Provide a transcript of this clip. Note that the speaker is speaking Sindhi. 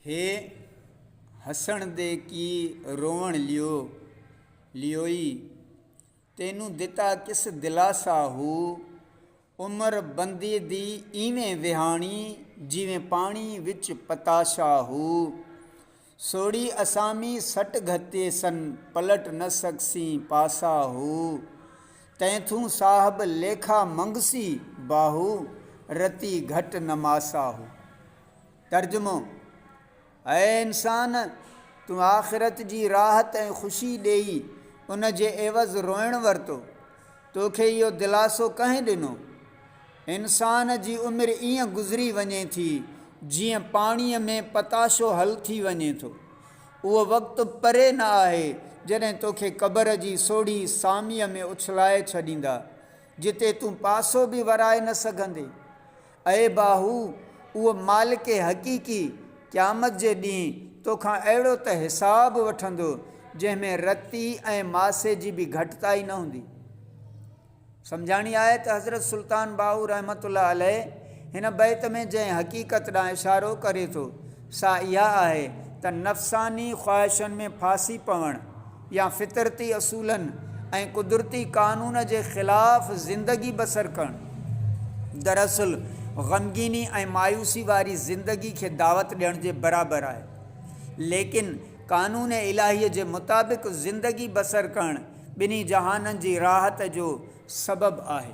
هي هسڻ دي ڪي روئڻ ليو ليوئي، تينون دتا ڪس دلاسا هو، عمر بندي دي ايوين وهاڻي، جيوين پاڻي وچ پتاشا هو، سوڙي اسامي سٽ گهتي سن، پلٽ نه سگسين پاسا هو، تين ٿون صاحب ليکا منگسي، باهو رتي گهٽ نه ماسا هو. ترجمو، اي انسان! تون آخرت جي راحت ۽ خوشي ڏيئي ان جي عيوض روئڻ ورتو، توکي اهو دلاسو ڪنهن ڏنو؟ انسان جي عمر ائين گذري وڃي ٿي جيئن پاڻيء ۾ پتاشو حل ٿي وڃي ٿو. اهو وقت پري نه آهي جڏهن توکي قبر جي سوڙهي ساميء ۾ اڇلائي ڇڏيندا، جتي تون پاسو به ورائي نه سگهندين. اي باهو! اهو مالڪ حقيقي، قيامت جي ڏينهن، تو کان اهڙو ته حساب وٺندو، جنهن ۾ رتي ۽ ماسي جي به گهٽتائي نه هوندي. سمجهاڻي آهي ته حضرت سلطان باهو رحمة الله عليه هن بيت ۾ جنهن حقيقت ڏانهن اشارو ڪري ٿو، سا اها آهي ته نفساني خواهشن ۾ ڦاسي پوڻ يا فطرتي اصولن ۽ قدرتي قانون جي خلاف زندگي بسر ڪرڻ دراصل غمگيني ۽ مايوسي واري زندگي کي دعوت ڏيڻ جي برابر آهي. ليڪن قانون الاهيء جي مطابق زندگي بسر ڪرڻ ٻنهي جهانن جي راحت جو سبب آهي.